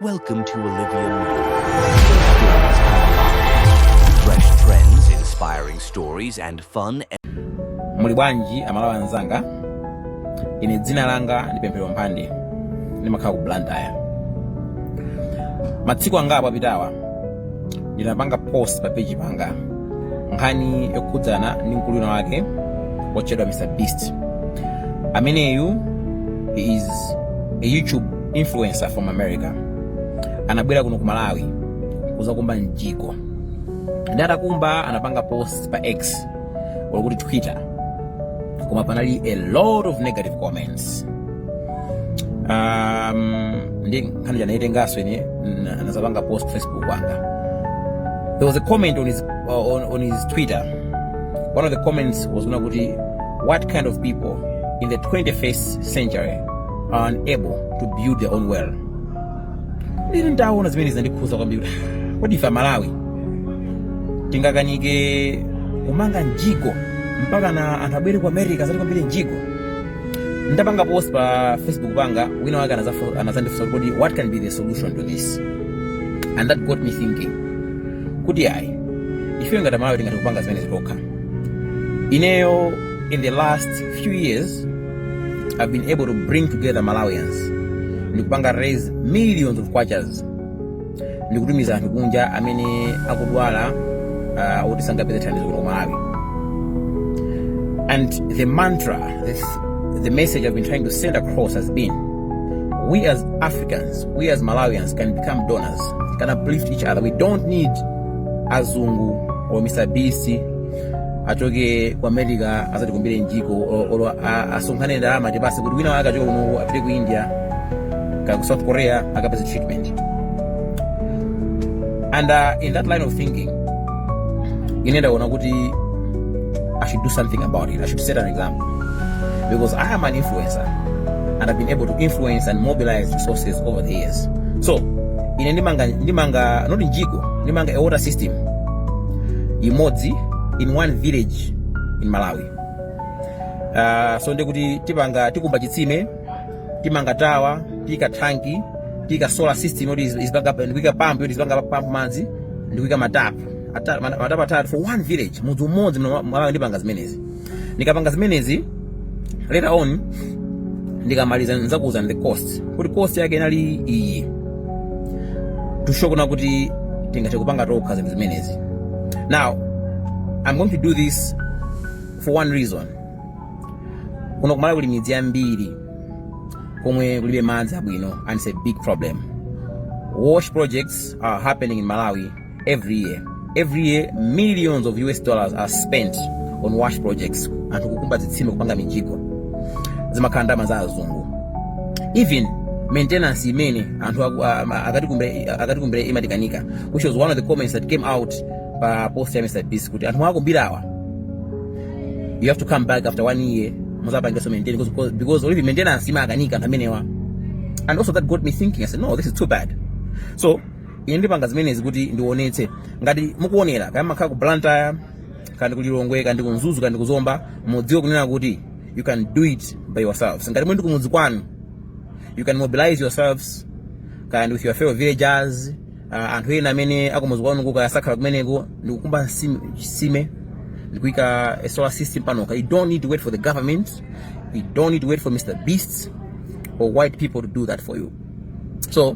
Welcome to Olivia Fresh trends, inspiring stories and fun. Muli bwanji amalawi anzanga? Ine dzina langa ndi Pemphero Mphande. Ndimakhala ku Blantyre. Matsiku angapo apitawa ndinapanga post pa page panga nkhani yokhudzana ndi mkulu wina wake wotchedwa Mr Beast. Ameneyu is a YouTube influencer from america anabwera kuno ku malawi kuzakumba mjigo nde atakumba anapanga post pa x olo kuti twitter koma panali a lot of negative comments um, nde nkhani ija ndinaitenganso ine na- nazapanga post pa facebook wanga there was a comment on his, on, on his twitter one of the comments was yonena kuti what kind of people in the 21st century are unable to build their own well nde ndaona zimenezi zinandikhudza kwambiri kuti "Ah, kodi ife amalawi tingakanike kumanga mjigo mpaka anthu abwere ku america azatikumbire mjigo ndapanga post pa facebook panga wina wake anazafo- anazandifunsa kuti kodi what can be the solution to this and that got me thinking kuti ayi ife ngati amalawi tingathe kupanga zimenezi tokha ineyo in the last few years have been able to bring together Malawians ndikupanga raise millions of kwachas ndikutumiza anthu kunja amene akudwala uh, oti sangapeze thandizo kuno Malawi and the mantra this, the message I've been trying to send across has been we as Africans we as Malawians can become donors can uplift each other we don't need azungu or Mr. BC achoke ku america azatikumbire mjigo o- olo a- asonkhane ndalama atipase kuti wina wake achoke kuno apite ku india kaya ku south korea akapeze treatment and uh, in that line of thinking ine ndaona kuti i should do something about it i should set an example because i am an influencer and i've been able to influence and mobilize resources over the years so ine ndimanga ndimanga not mjigo ndimanga a water system imodzi in one village in malawi uh, so ndikuti tipanga tikumba chitsime timanga tawa tiika thanki tiika solar system yoti izipanga ndikuika pampu yoti izipanga pampu madzi ndikuika matapu matapu atatu for one village mudzi umodzi malawi ndipanga zimenezi Ndikapanga zimenezi later on ndikamaliza nzakuuzani the cost kuti cost yake inali iyi to show kunena kuti tingathe kupanga tokha zinthu zimenezi now i'm going to do this for one reason kuno kumalawi kuli midzi yambiri komwe kulibe madzi abwino and it's a big problem wash projects are happening in malawi every year every year millions of us dollars are spent on wash projects anthu kukumba zitsime kupanga mijigo zimakhala ndalama za azungu even maintenance imene anthu aku- a- a- akatikumbe- akatikumbira imatikanika which was one of the comments that came out pa post ya mr beast kuti anthu akumbirawa you have to come back after one year muzapangenso maintain because- because- because already maintenance imakanika anthu amenewa and also that got me thinking i said no this is too bad so ine ndipanga zimenezi kuti ndionetse ngati mukuonera kaya mumakhala ku blantyre kaya ndi ku lilongwe kaya ndi ku mzuzu kaya ndi ku zomba mudziwe kunena kuti you can do it by yourselves ngati muli ndi kumudzi kwanu you can mobilize yourselves kandi with your fellow villagers uh, anthu ena amene akumudzi kwanu koma sakhala kumeneko ndikukumba nsime- chitsime ndikuika a solar system panoka you don't need to wait for the government you don't need to wait for mr beast or white people to do that for you so